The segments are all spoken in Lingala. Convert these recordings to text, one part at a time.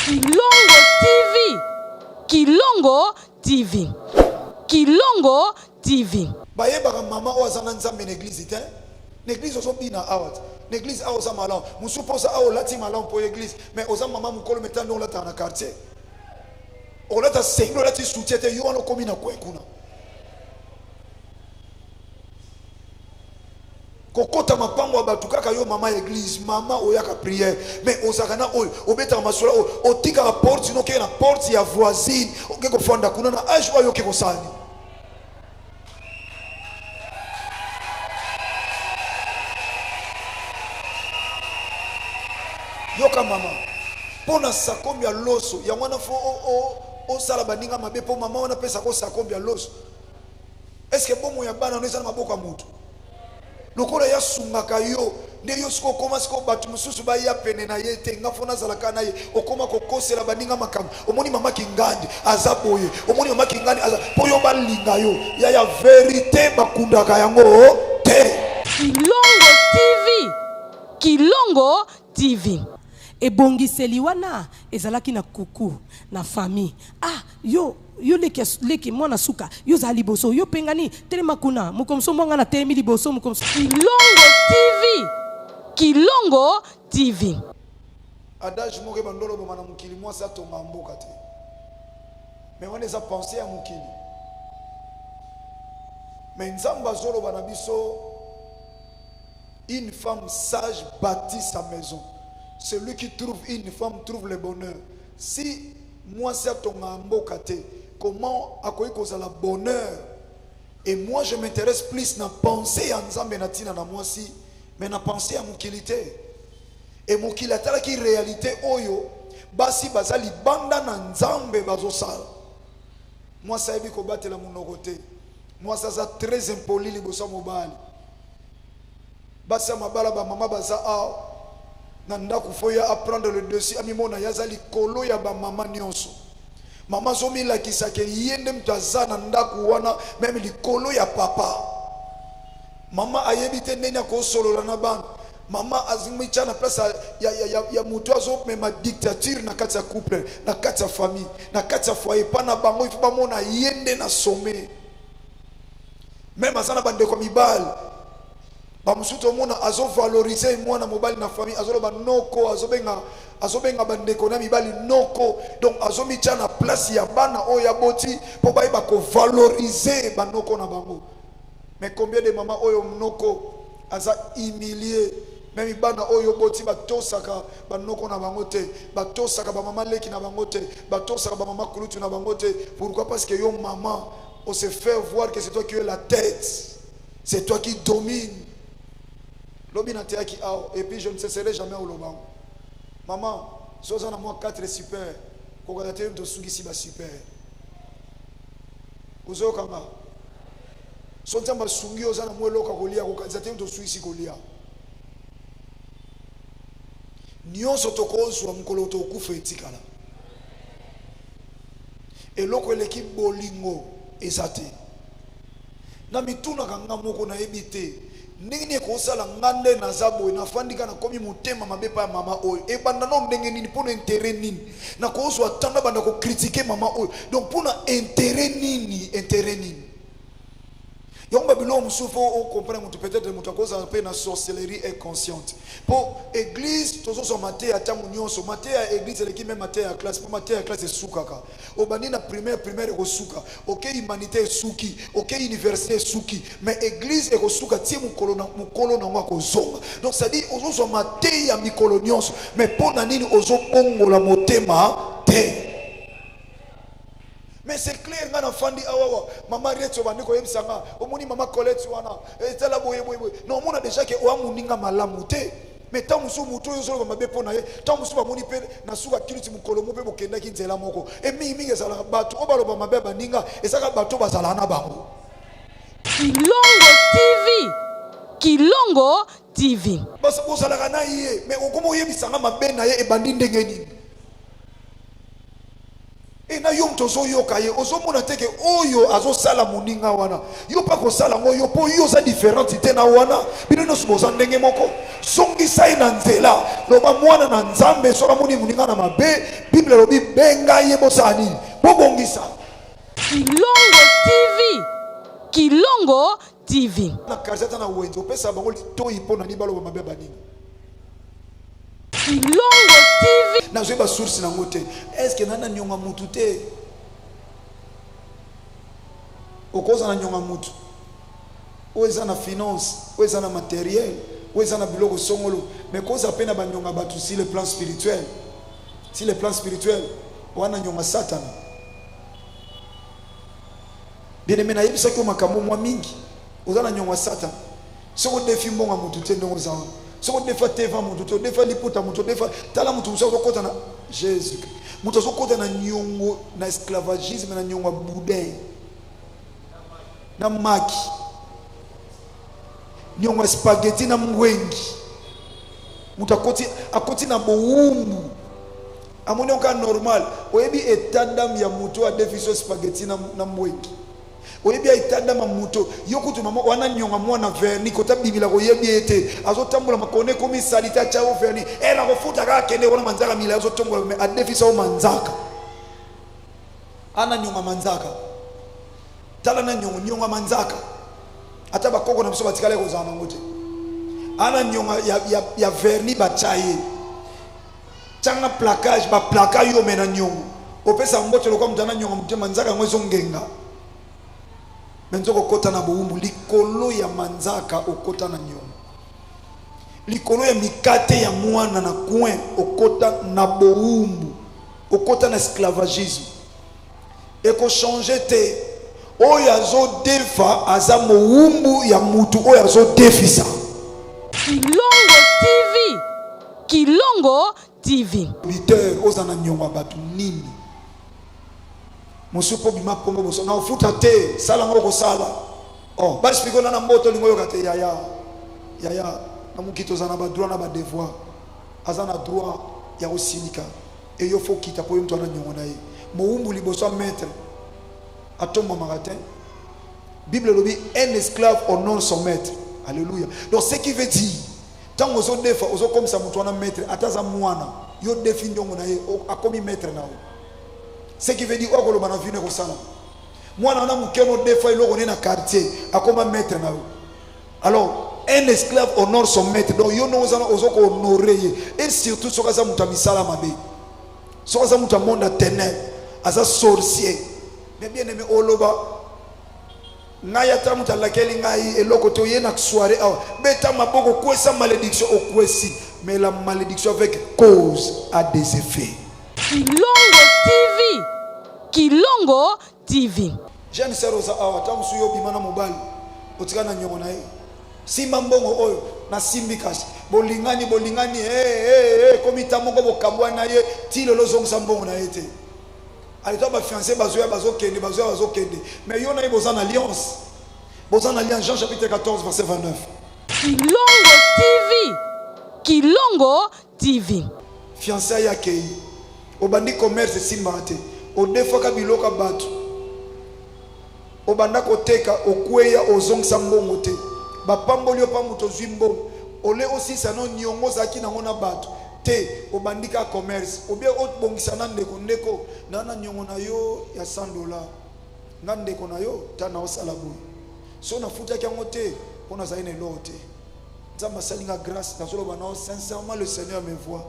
Kilongo TV. Kilongo TV. Kilongo TV. bayebaka mama oyo aza na nzambe na eglize te na eglize ozobina awa te na eglize awa oza malamu mosusu mpo oza awa olati malamu mpo ya eglize mais oza mama mokolo meta nde olataka na quartier olata sengi olati sutie te yo wana okomi na kwe kuna kokota mapango ya bato kaka yo mama ya eglise mama oyaka priere mais ozalaka na oyo obetaka masolo oyo otikaka porte sino okei na porte ya voisine oke kofanda kuna na age oyo oke kosala nini yoka mama mpo na sakombi ya loso yango wana fo osala baninga mabe mpo mama wana apesaka osakombi ya loso Est-ce que bomoi ya bana no eza na maboko ya mutu? Lokola ye asungaka yo nde yo sikoyo okoma sikoyo bato mosusu baya pene na ye te nga fo nazalaka na ye okoma kokosela baninga makambo omoni mama kingandi aza boye omoni mama kingandi aza mpo yo balinga yo ya ya verite bakundaka yango te kilongo tv kilongo tv ebongiseli wana ezalaki na kuku na famille ah Yo yo leki ya leki mwana suka yo ozala liboso yo pengani telema kuna mokomso mwa ngai natelemi liboso mokomso kilongo tv kilongo tv adage moko ebandolo oboma na mokili mwasi atonga mboka te me wana eza pense ya mokili me nzambe azoloba na biso une femme sage bâtit sa maison celui qui trouve une femme trouve le bonheur Si mwasi atongaka mboka te comment akoki kozala bonheur et moi je m'intéresse plus na pensee ya Nzambe na tina na mwasi mais na pensee ya mokili te et mokili atalaki realite oyo basi baza libanda na Nzambe bazosala mwasi ayebi kobatela monoko te mwasi aza très impoli liboso ya mobali Basi ya mabala ba mama baza awa na ndaku faut ye a prendre le dessus amimona ye aza likolo ya ba mama nionso mama azo milakisa ke ye nde moto aza na ndaku wana meme likolo ya papa mama ayebi te ndenge akosolola na bana mama azomitya na place ya, ya, ya, ya, ya moto azomema dictature na kati ya couple na kati ya famille na kati ya foyer epa na bango ifo bamona ye nde na sommet meme aza na bandeko ya mibale bamosusu tomona azovalorize mwana mobali na famille azoloba noko azobenga azobenga bandeko na mibali noko donc azomitya na place ya bana oyo aboti mpo bayeba kovalorize banoko na bango mais combien de mama oyo noko aza humilie meme bana oyo oboti batosaka banoko na bango te batosaka bamama leki na bango te batosaka bamama kulutu na bango te pourquoi parce que yo mama on se fait voir que c'est toi qui es la tête C'est toi qui domine. Lobi na teyaki awa et puis je ne cesserai jamais oloba. Maman, si oza na mwa 4 super, kokata te moto osukisi ba super. Ozoyoka nga? So nzambe asungi oza na mwa eloko ya kolia, kokanisa te moto osukisi kolia. Nyonso tokozwa mokolo tokufa etikala. Eloko eleki bolingo eza te. Na mitunaka nga moko na yebi te ndenge nini ekosala nga nde naza boye nafandi kaka nakomi motema mabe epai ya mama oyo ebanda nao ndenge nini mpo na intere nini nakozwa ntan nabanda kokritike mama oyo donc mpo na intere nini intere nini yango babiloko mosusu fo okomprene moto peut-être moto akozala mpe na sorcellerie inconsciente mpo église tozozwa mateya ntango nyonso mateya ya église eleki mpe mateya ya classe mpo mateya ya classe esukaka obandi na primaire primaire ekosuka oke humanité esuki oke université esuki mais église ekosuka ti mokolo na mokolo nango akozonga donc cestadire ozozwa mateyi ya mikolo nyonso mais mpo na nini ozobongola motema te mais c'est clair nga na fandi awawa ah, mama rete obandi koyebisa nga omoni mama colette wana etala eh, boye boye boye na omona déjà ke oamoninga malamu te me ntango mosusu moto oyo ozoloba mabe mpo na ye ntango mosusu bamoni mpe na suka kiluti mokolo mo mpe bokendaki nzela moko e mingimingi ezalaka bato oyo baloba mabe ya baninga ezalaka bato bazalaka na bango kilongo tv kilongo tv bozalaka na ye me okoma oyebisanga mabe na ye ebandi ndenge nini Et na yo moto ozoyoka ye ozomona te ke oyo azosala moninga wana yo mpe akosala ngo yo mpo yo oza différente te na wana bino nyonso boza ndenge moko zongisa ye na nzela loba mwana na nzambe soki amoni moninga na mabe bible elobi benga ye bosala nini bobongisa kilongo tv kilongo TV. Na quartier ata na wenze opesa bango litoyi mpo na nini baloba mabe ya baninga. Ilongo TV. Nazwi ba source nango te. Est-ce que nana nyonga mutu te? Okoza na nyonga mutu. Oyo eza na finance, oyo eza na matériel, oyo eza na biloko songolo, mais koza pe na ba nyonga batu si le plan spirituel. Si le plan spirituel, wana nyonga satana. Bien aimé, nayebisaki yo makambo mwa mingi. Oza na nyongo ya satan. Soki odefi mbongo ya motu te ndenge oza wana. Soki odefa teva motu te, odefa liputa motu, odefa tala motu mosusu azokota na Jésus. Motu azokota na nyongo na esclavagisme na nyongo ya boudin. Na maki. Nyongo ya spaghetti na mwengi. Motu akoti akoti na bowumbu. Amoni yo kaka normal. Oyebi etat d'ame ya moto oyo adefisi yo spaghetti na, na mbwengi? oyebi etat d'ame ya moto yo kutu mama wana nyonga mwana verni kota bibila koyebi ye te azotambola makona ekomi salite atya yo verni e nakofuta kaka kende wana manzaka mila azotombola me adefisa yo manzaka ana nyonga manzaka tala na nyongo nyonga manzaka ata bakoko na biso batikala ekozala nango te ana nyonga ya, ya, ya verni batya ye Changa placage ba plaka yo mena nyongo opesa mbote lokwa moto ana nyongo motema nzaka yango ezongenga me nzoka okota na bowumbu likolo ya manzaka okota na nyongo likolo ya mikate ya mwana na coin okota na bowumbu okota na esclavagisme eko changer te oyo azo defa aza mowumbu ya mutu oyo azo defisa kilongo tv kilongo tv biteur oza na nyonga bato nini mosusu mpo bima kongo boso na ofuta te sala ngo okosala oh, basplike ona na mboto olingo oyoka te yaya yaya na mokili toza na badroit na badevoir aza na droit ya kosilika Et yo faut kita po yo mutu wana nyongo na ye mowumbu liboso ya maître atombamaka te bible elobi un esclave honore son maître alléluia donc ce qui veut dire ntango ozodefa ozokomisa moto wana maître ata aza mwana yo defi ndiongo na ye akomi maître na yo ce qui veut dire oyo akoloba na vino ekosalama mwana wana moke no defa eloko ne na quartier akoma maître na yo Alors, un esclave honore son maître. Donc, yo nous allons ozo honorer et surtout soka za muta misala mabe. Soka za muta monde ténèbres, aza sorcier. Mais bien aimé oloba ngai ata moto alakeli ngai eloko te oye na soirée awa beta maboko kwesa malédiction okwesi mais la malédiction avec cause a des effets kilongo tv kilongo TV. Jeune sœur oza awa tango mosusu yo obima na mobali otika na nyongo na ye simba mbongo oyo na simbi kasi bolingani bolingani hey, eh, eh, hey, eh, ekomi ta moko bokabwa na ye ti lelo ozongisa mbongo na ye te aleta bafiance bazoya bazokende bazoya bazokende mais yo na ye boza na alliance boza na alliance jean chapitre 14 verset 29 kilongo tv kilongo TV. Fiançailles akeyi obandi commerce esimbaka te odefaka biloko ya batu obanda koteka okweya ozongisa mbongo te bapamboli yo pa moto ozwi mbongo ole osilisa no niongo ozalaki nango na batu te obandi ka commerce obie obongisa na ndeko ndeko na na niongo na yo ya 100 dollar nga ndeko na yo ta na osala boye so nafutaki yango te mpo nazali na eloko te nzambe asali nga grâce nazoloba nao sincèrement le seigneur me voit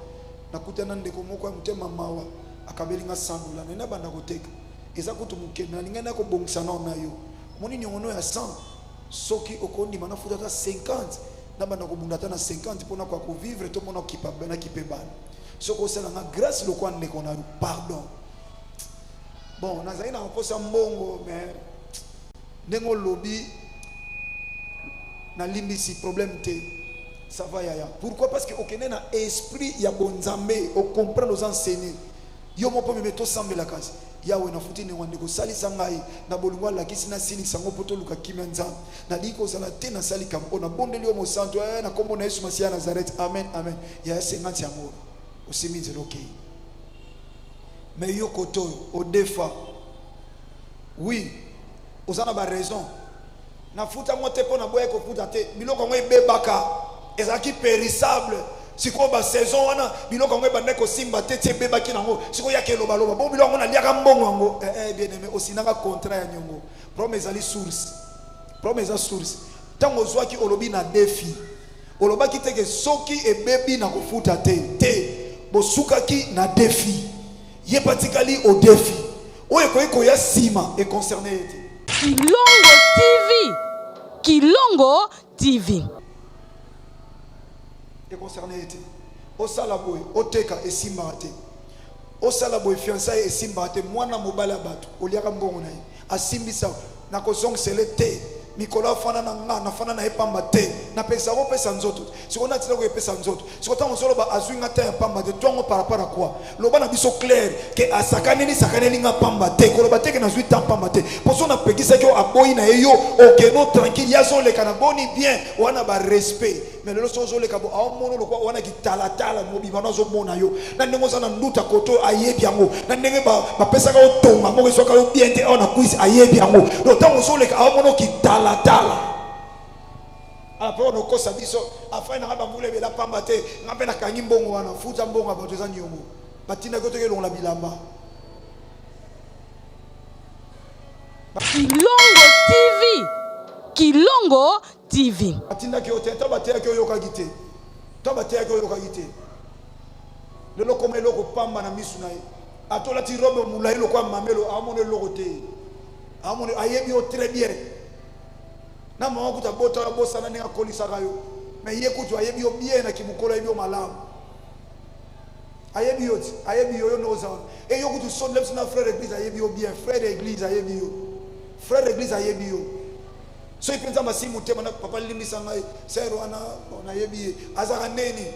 nakutana ndeko moko ya motema mawa akabeli nga 100 dola naye nabanda koteka eza kutu mokende nalingai na kobongisa nao na yo omoni niongono ya 100 soki okondima nafuta ata 50 nabanda kobunda ata na 50 mpona kwa kovivre to mpona okipa nakipe bana soki osala nga grâce lokwa ndeko na pardon bon nazali na kokosa mbongo mais ndenge olobi nalimbisi problème te ça va yaya pourquoi parce que okende na esprit ya bonzambe ocomprendre oza enseigne yo moko meme tosambelaka yawe nafuti ndenge wana ndeko salisa ngai na bolingo alakisi nasilisa yango mpo toluka kimia nzambe nalingi kozala te nasali kambo oyo nabondeli yo mosantu eh, na nkombo na yesu masiya nazarete amen amen yaya senganti yango oyo osimi nzela okei me yo koto oyo odefa Oui, oza na ba raison. Nafuta ngo te mpo naboya kofuta te. Biloko yango ebebaka, ezalaki perissable. sikoyo basaison wana biloko yango ebandaki kosimba te ti ebebaki nango sikoyo yaka elobaloba bongo biloko yango naliaka mbongo yango eh, eh, bien aimé osinanga contrat ya nyongo problème ezali source problème eza source ntango ozwaki olobi na defi olobaki te ke soki ebebi na kofuta te te bosukaki na defi ye patikali odefi Oyo ekoki koya sima e concerne ye te. Kilongo TV. Kilongo TV. E concerne ye te. Osala boye, oteka esimbaka te. Osala boye fiançailles esimbaka te. Mwana mobali ya batu oliaka mbongo na ye. Asimbisa Nakozongisele te mikolo afanda na nga nafanda na ye pamba te napekisa kopesa nzoto sikoyo natila koyepesa nzoto sikoyo ntango ozoloba azwi nga ta ya pamba te twango par rapport à quoi loba na biso claire ke asakaneli sakaneli nga pamba te koloba te ke nazwi ta pamba te mpo so napekisaki yo aboyi na ye yo okeno tranquille ye azoleka na boni bien wana barespect mais lelo soki ozoleka bo aomono lokwa wana kitalatala mobima no azomona yo na ndenge oza na nduta kote oyo ayebi yango na ndenge bapesaka yo tonga moko eswaka yo bien te awa na kwisi ayebi yango do ntango ozoleka aomono kitalatala apo ah, onokosa biso afai nanga bambula ebela pamba te nga mpe nakangi mbongo wana futa mbongo ya bato eza niongo batindaki yo toki elongola bilamba kilongo tv kilongo TV. Atindaki yo te, ata bateyaki oyokaki te, ata bateyaki oyokaki te. Lelo koma eloko pamba na misu na ye, ata olati robe molai lokola mamelo, aomona eloko te, aomona ayebi yo très bien. Na mama kutu abota yo, abosana ndenge akolisaka yo, mais ye kutu ayebi yo bien na kimokolo, ayebi yo malamu ayebi yo ti ayebi yo yo nde oza wana e yo kutu sonde biso na frère église ayebi yo bien frère église ayebi yo frère église ayebi yo soki mpenza masi motema na papa limbisa ngai ser wana nayebi ye azalaka ndeni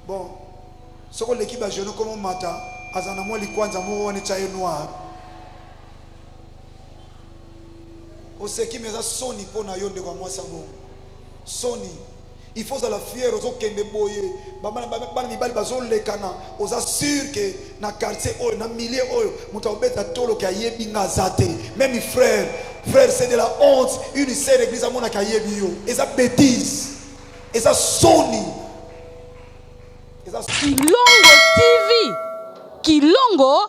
bon soki oleki bajeune koma omata aza na mwa likwanza moko wana etya ye noir oseki me eza soni mpo na yo ndeko ya mwasi abongo soni Il faut ozala fier ozokende boye bana mibali bazolekana oza sur ke na quartier oyo na milieu oyo moto akobeta toloke ayebi nga aza te meme frère frère c'est de la honte une sere église amonaka ayebi yo eza bétise eza soni eza kilongo tv kilongo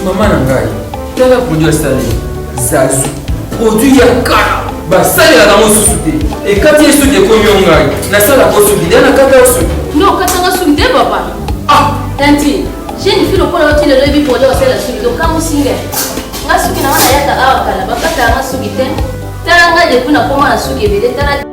Mama na ngai, tala produit asali zazu, produit ya kala basalelaka yango susu te, ekati ye suki ekomi yo ngai nasalaka osuki nde nakata yo suki. No, katanga suki te papa. Ah, Tanti, jeune fille lokola yo ti lelo ebi pole osala suki lokango singa. Nga suki na wana yaka awa kala bakata nga suki te. Tala nga depuis nakoma na suki ebele tala